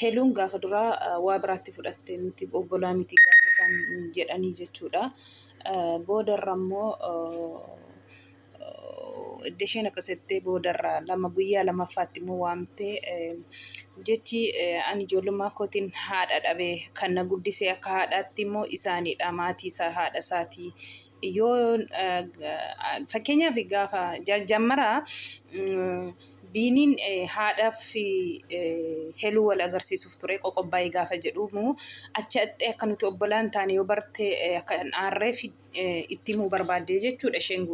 Heluun gaafa duraa waa biraatti fudhatte nuti obbolaa miti gaafa isaan jedhanii jechuudha. Boodarra immoo edda isheen akkas jettee boodarra lama guyyaa lammaffaatti immoo waamtee jechi ani ijoollummaa kootiin haadha dhabe kan na guddisee akka haadhaatti immoo isaaniidha maatii isaa haadha isaatii yoo fakkeenyaaf gaafa jaljammara biiniin haadhaaf heluu wal agarsiisuuf ture qoqobbaa'ee gaafa jedhumu achi axxee akka nuti obbolaan taane yoo barte akka hin aarreef itti himuu barbaadde jechuudha isheen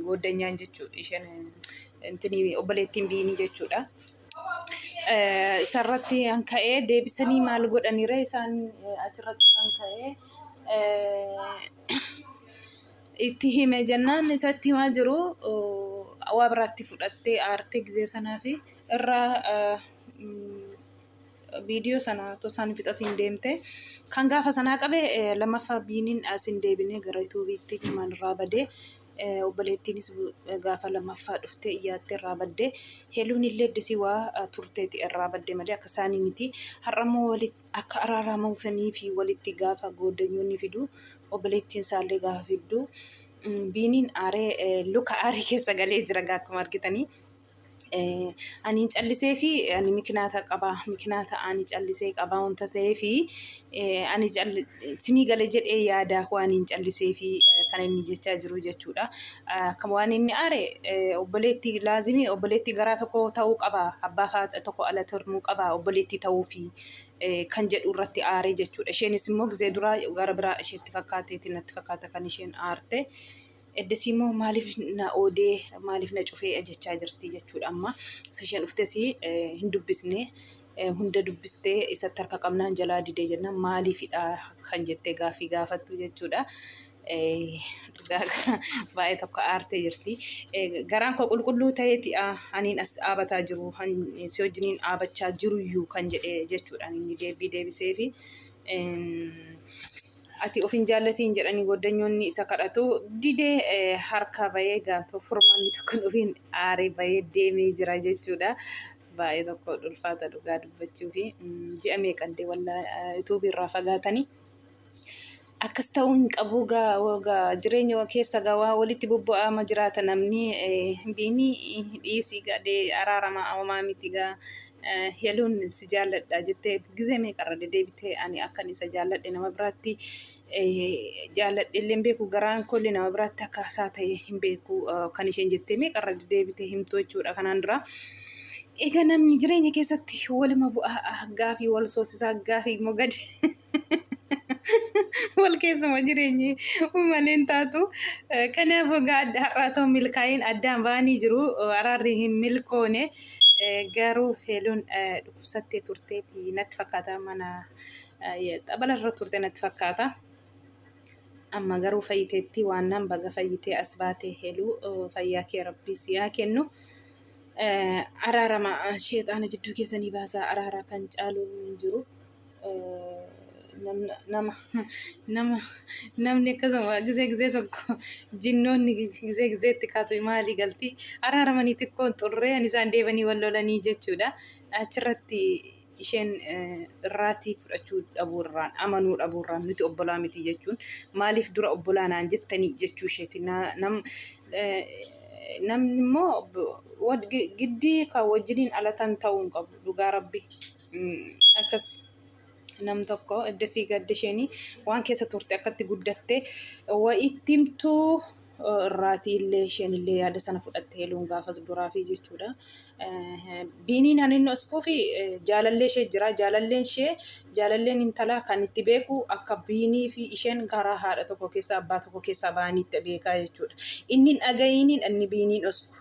gooddanyaan jechuudha isheen intini obboleettiin biinii jechuudha. isarratti kan ka'ee deebisanii maal godhanire isaan achirratti kan ka'ee itti hime jennaan isatti himaa jiru waa biraatti fudhattee aartee gizee sanaa fi irraa viidiyoo sana otoo isaan fixatiin deemte kan gaafa sanaa qabe lammaffaa biiniin as hin deebine gara yuutuubiitti cumaan irraa badee Obboleettiinis gaafa lammaffaa dhuftee iyyaattee irraa baddee heeluun illee disii waa turteeti irraa badde malee akka isaanii miti. Har'a immoo akka araaramuufanii fi walitti gaafa goodanyyoonni fidu obboleettiin isaallee gaafa fiddu biiniin aaree luka aarii keessa galee jira akkuma argitanii. Ani hin callisee fi ani mikinaata qaba. Mikinaata ani callisee qaba wanta ta'ee fi ani sinii gale jedhee yaada waan hin callisee fi kan inni jechaa jiru jechuudha. Akkam waan inni aare obboleetti laazimii obboleetti garaa tokko ta'uu qaba. Abbaa faa tokko ala turmuu qaba obboleetti ta'uu fi kan jedhu irratti aare jechuudha. Isheenis immoo gizee duraa gara biraa isheetti fakkaateeti natti fakkaata kan isheen aarte. Eddasii immoo maaliif na oodee maaliif na cufee jechaa jirti jechuudha amma sisheen dhuftes hin dubbisne hunda dubbistee isatti harka qabnaan jalaa didee jennaan maaliifidha kan jettee gaaffii gaafattu jechuudha. Baay'ee tokko aartee jirti. Garaan koo qulqulluu ta'eeti aniin as dhaabataa jiru si wajjiniin dhaabachaa jiruyyuu kan jedhee jechuudhaan inni deebii deebiseefi. Ati of hin jaallatiin jedhanii goddanyoonni isa kadhatu didee harkaa bahee gaatoo furmaanni tokko ofiin aaree bahee deemee jira jechuudha. Baay'ee tokko ulfaata dhugaa dubbachuu fi ji'a meeqaddee wallaa yuutuubii irraa fagaatanii. Akkas ta'uu hin qabu gaa jireenya keessa gaa waa walitti bobba'aama jiraata namni biinii dhiisii gadee araarama homaa miti gaa Heluun si jaalladha jettee gizee meeqarra deddeebitee ani akkan isa jaalladhe nama biraatti jaalladhe illee hin beeku garaan kolli nama biraatti akka isaa ta'e hin beeku kan isheen jettee meeqarra deddeebitee himtu jechuudha kanaan dura. Egaa namni jireenya keessatti waluma bu'aa gaafii wal soosisaa gaafii immoo gadi wal keessuma jireenyi uumameen taatu kanaaf egaa adda har'aa ta'u milkaa'in addaan ba'anii jiru araarri hin milkoone garuu heeluun dhukkubsattee turteeti natti fakkaata mana xabala irra turte natti fakkaata. Amma garuu fayyiteetti waan nan baga fayyitee as baatee heeluu fayyaa kee rabbii si haa kennu. Araarama sheexaana jidduu keessanii baasaa araaraa kan caalu hin jiru. nama nama namni akkasuma gizee gizee tokko jinnoonni gizee gizeetti kaatu maalii galti araaramanii xiqqoon xurree ani isaan deebanii wal lolanii jechuudha achirratti isheen irraatii fudhachuu dhabuu irraan amanuu dhabuu irraan nuti obbolaa miti jechuun maaliif dura obbolaa naan jettanii jechuu isheeti nam namni immoo giddii kan wajjiniin alatan ta'uu hin qabu dhugaa rabbi akkas nam tokko edda sii gadde isheenii waan keessa turte akkatti guddatte wa itti himtuu irraatii illee isheen illee yaada sana fudhatte heeluun gaafas duraa fi jechuudha. Biiniin ani inni oskuu fi jaalallee ishee jira jaalalleen ishee jaalalleen intalaa kan itti beeku akka biinii fi isheen garaa haadha tokko keessa abbaa tokko keessa ba'aniitti beekaa jechuudha. Inni hin dhaga'iiniin inni biiniin osku.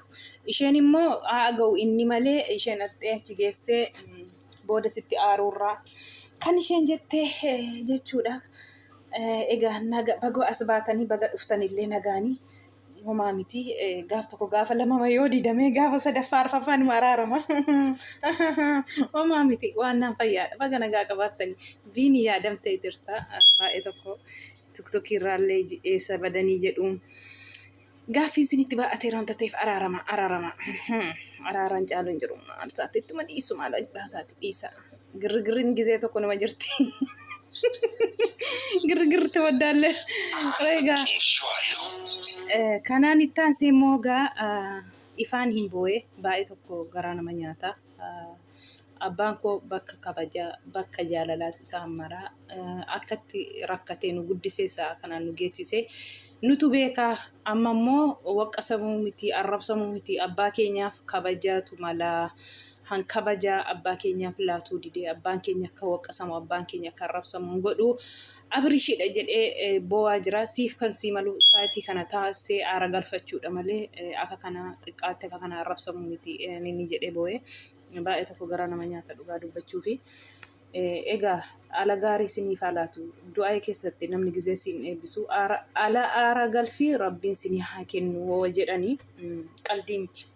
Isheen immoo haa aga'u inni malee isheen dhaqxee achi geessee mm, booda sitti aaruurraa kan isheen jettee eh, jechuudha. Eh, Egaa naga baga as baatanii baga dhuftanillee nagaanii homaa miti Eh, gaaf tokko gaafa lamama yoo didamee gaafa sadaffaa arfaffaa numa araarama homaa miti waan naan fayyaadha baga nagaa qabaattanii biini yaadamtee jirta Ah, baay'ee tokko tuktukii irraallee eessa badanii jedhuun Gaaffiin isinitti baay'ateera wanta ta'eef araarama araarama araaraan caalu hin jiru maal isaatti ittuma dhiisu maal ajbaa isaatti dhiisa girgirriin gizee tokko nama jirti girgirri tawaddaalle egaa kanaan itti aansee immoo egaa ifaan hin boo'e baay'ee tokko garaa nama nyaata Abbaan koo bakka kabajaa, bakka jaalalaatu isaan mara. Akkatti rakkatee nu guddisee sa'a kanaan nu geessise nutu beeka. Amma immoo waqqasamuu miti, arrabsamuu miti abbaa keenyaaf kabajaatu mala. Han kabajaa abbaa keenyaaf laatuu didee abbaan keenya akka waqqasamu, abbaan keenya akka arrabsamu hin godhu. Abirishidha jedhee eh, boo'aa jira. Siif kan sii malu sa'aatii kana taasisee aara galfachuudha malee eh, akka kana xiqqaatti akka kana arrabsamuu miti eh, inni jedhee boo'ee. Baay'ee tokko garaa nama nyaata dhugaa dubbachuu fi egaa ala gaarii isiniif haa laatu du'aa keessatti namni gizee siin eebbisu ala aara galfii rabbiin isinii haa kennu hoo jedhanii qaldii miti.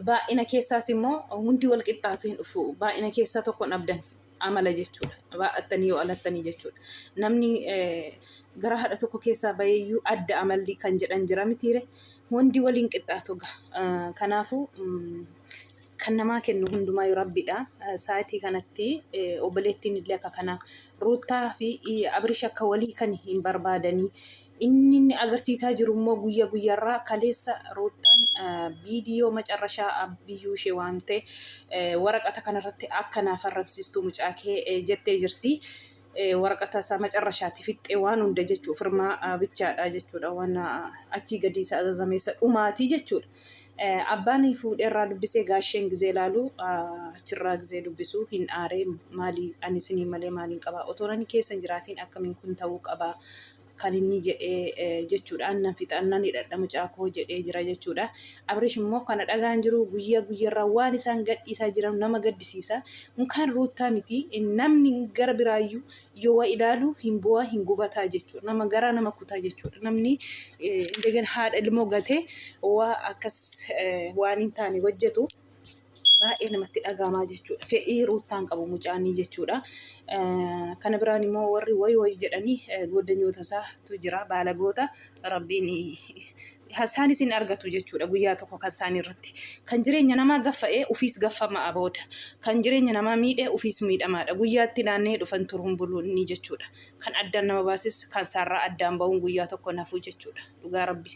Baay'ina keessaas immoo hundi wal qixxaatu hin dhufu baay'ina keessaa tokkoon abdan. amala jechuudha. Baa'attanii yoo alattanii jechuudha. Namni gara haadha tokko keessaa baheeyyuu adda amalli kan jedhan jira mitiire hundi waliin qixxaatu ga. Kanaafuu kan namaa kennu hundumaa yoo rabbiidha. Saatii kanatti obboleettiin illee akka kanaa ruuttaa fi abirish akka walii kan hin barbaadanii Inni inni agarsiisaa jiru immoo guyya guyyarraa kaleessa Ruuttaan viidiyoo macarrashaa biyyuu ishee waamte waraqata kanarratti akka naaf arrabsiistuu mucaa kee jettee jirti. Waraqata isaa macarrashaati fixxee waan hunda jechuu firmaa bichaadha jechuudha waan achii gadii isa azazameessa dhumaatii jechuudha. Abbaan fuudheerraa dubbisee gaasheen gizee laalu achirraa gizee dubbisu hin aaree maalii ani isinii malee maaliin qabaa otoo nani keessa hin jiraatiin akkamiin kun ta'uu qabaa kan inni jedhee jechuudhaan nan fixan nan hidhadha mucaa koo jedhee jira jechuudha. Abrish immoo kana dhagaan jiru guyyaa guyyarraa waan isaan gadhiisaa jiran nama gaddisiisa. Unkaan ruuttaa miti namni gara biraayyuu yoo waa ilaalu hin bu'aa hin gubataa jechuudha. Nama garaa nama kutaa jechuudha. Namni eh, indegana haadha ilmoo gatee waa akkas eh, waan hin taane hojjetu. baay'ee namatti dhagaamaa jechuudha. Fe'ii ruuttaan qabu mucaanii jechuudha. Kana biraan immoo warri wayi wayi jedhanii goddanyoota isaatu jira baalagoota rabbiin isaan isin argatu jechuudha guyyaa tokko kan isaan irratti. Kan jireenya namaa gaffa'ee ofiis gaffamaa booda kan jireenya namaa miidhee ofiis miidhamaadha. Guyyaatti naannee dhufan turuun buluun ni jechuudha. Kan addaan nama baasis kan isaarraa addaan ba'uun guyyaa tokko nafuu jechuudha. Dhugaa rabbi.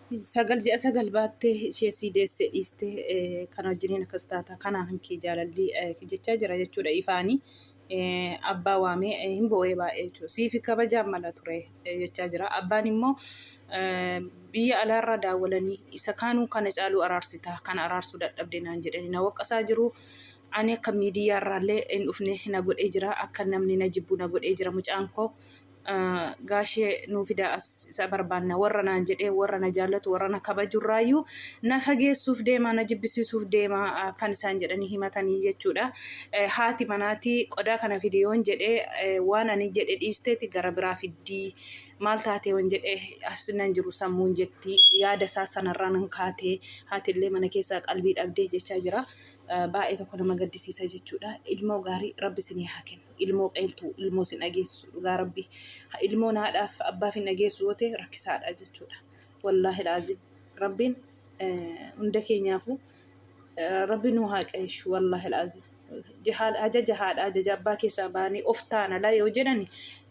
sagal ji'a sagal baattee ishee sii deessee dhiistee eh, kana wajjiniin akkas taata kanaa kan kee jaalalli eh, jechaa jira jechuudha ifaanii eh, abbaa waamee eh, hin boo'ee baay'ee jechuudha siifi kabajaan mala ture eh, jechaa jira abbaan immoo eh, biyya alaarraa daawwalanii isa kaanuu kana caaluu araarsitaa kana araarsuu dadhabde naan jedhanii na waqqasaa jiru ani akka miidiyaarraallee hin dhufne na godhee jira akka namni na jibbu na godhee jira mucaan koo gaashee nuu fidaa as isa barbaanna warra naan jedhee warra na jaallatu warra na kabajurraayyuu na fageessuuf deemaa na jibbisiisuuf deemaa ah, kan isaan jedhanii himatanii jechuudha. Eh, Haati manaatii qodaa kana fidi yoon jedhee eh, waan ani jedhe dhiisteeti gara biraa fiddii maal taatee yoon jedhe as nan jiru sammuun jetti yaada isaa sanarraa nan kaatee haatillee mana keessaa qalbii dhabdee jechaa jira. Eh, Baay'ee tokko nama gaddisiisa jechuudha. Ilmoo gaarii rabbi isinii haa kennu. ilmoo qayltu ilmoo sin dhageessisu dhugaa rabbi ilmoon haadhaaf abbaaf hin dhageessu yoo ta'e rakkisaadha jechuudha wallaahi laazim rabbiin hunda keenyaafuu rabbi nuu haa qayshu wallaahi laazim ajaja haadha ajaja abbaa keessaa baanii of taana la yoo jedhani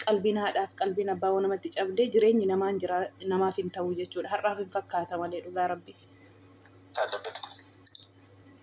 qalbiin haadhaaf qalbiin abbaa waan namatti cabdee jireenyi namaan jira namaaf hin ta'u jechuudha har'aaf hin fakkaata malee dhugaa rabbiif.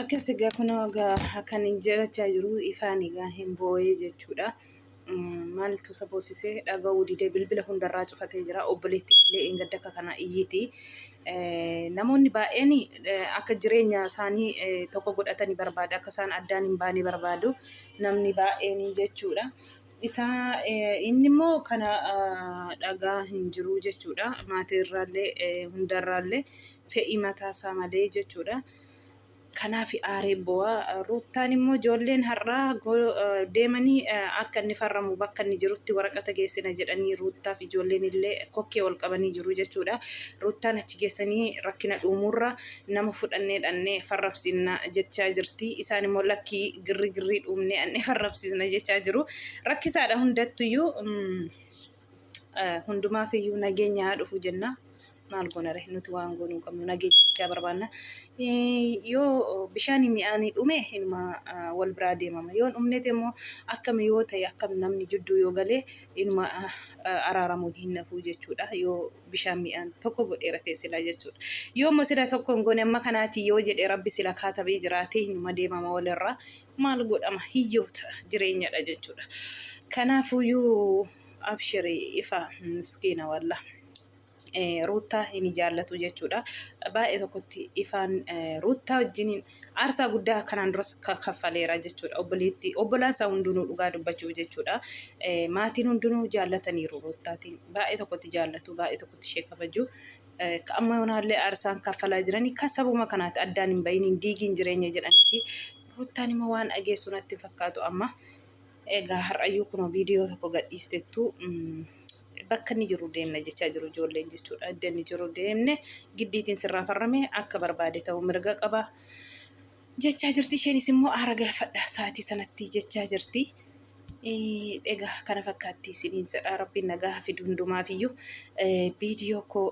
Akkas egaa kunoo egaa kan hin jirachaa jiru ifaan egaa hin boo'ee jechuudha. Maaltu isa boosisee dhaga'uu didee bilbila hundarraa cufatee jira. Obboleettiin illee eeggadda akka kana iyyiti. Namoonni baay'een akka jireenya isaanii tokko godhatanii barbaadu. Akka isaan addaan hin baane barbaadu. Namni baay'een jechuudha. isaa inni immoo kana dhagaa hin jiruu jechuudha. Maatii irraallee hundarraallee fedhii mataa isaa malee jechuudha. Kanaaf aaree bu'aa ruuttaan immoo ijoolleen har'aa deemanii akka inni farramu bakka inni jirutti waraqata geessina jedhanii ruuttaaf ijoolleen illee kokkee ol qabanii jiru jechuudha. Ruuttaan achi geessanii rakkina dhuumuurra nama fudhannee dhannee farrabsiifna jechaa jirti. Isaan immoo lakkii girri girrii dhuumnee annee farrabsiifna jechaa jiru. Rakkisaadha hundattuyyuu hundumaaf iyyuu nageenya haa dhufu jenna. Maal goonare nuti waan goonuu qabnu nageenya bichaa barbaanna. Yoo bishaan mi'aanii dhume inuma wal biraa deemama. Yoo dhumnete immoo akkam yoo ta'e akkam namni jidduu yoo galee inuma araaramuun hin nafuu jechuudha. Yoo bishaan mi'aan tokko godheera ta'e silaa jechuudha. Yoo immoo sila tokko hin goone amma kanaati yoo jedhe rabbi sila kaatabee jiraate hinuma deemama walirraa maal godhama hiyyoota jireenyadha jechuudha. Kanaafuyyuu abshiri ifa miskiina walla. Ruuttaa hin jaallatu jechuudha. Baay'ee tokkotti ifaan ruuttaa wajjiniin aarsaa guddaa kanaan duras kaffaleera jechuudha obboleetti obbolaan isaa hundinuu dhugaa dubbachuuf jechuudha maatiin hundinuu jaallataniiru ruuttaatiin baay'ee tokkotti jaallatu baay'ee tokkotti ishee kabaju amma yoonaallee aarsaan kaffalaa jiranii kan sabuma kanaati addaan hin bahin hin diigiin jireenya jedhaniiti ruuttaan immoo waan dhageessu natti fakkaatu amma Egaa har'ayyuu kunoo viidiyoo tokko gadhiistettu bakka inni jiru deemna jechaa jiru ijoolleen jechuudha. Idda inni jiru deemne giddiitiin sirraa farrame akka barbaade ta'u mirga qaba jechaa jirti. Isheenis immoo aara galfadha sa'aatii sanatti jechaa jirti. Egaa kana fakkaatti isiniin jedha rabbiin nagaa fidu hundumaafiyyuu viidiyoo koo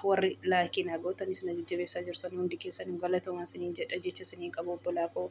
warri laayikii naa gootanis na jajjabeessaa jirtan hundi keessanuu galatoomaa isiniin jedha jecha isiniin qabu obbolaa koo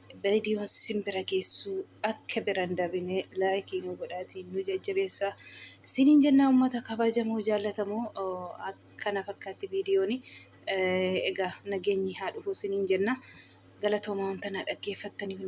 viidiyoon sin bira geessu akka bira hin dabine laayikii nu godhaatiin nu jajjabeessa. Isiniin jennaa uummata kabajamoo jaallatamoo akkana fakkaatti viidiyoon egaa nageenyi haa dhufu isiniin jenna. Galatoomaa wanta na dhaggeeffattanii hundi.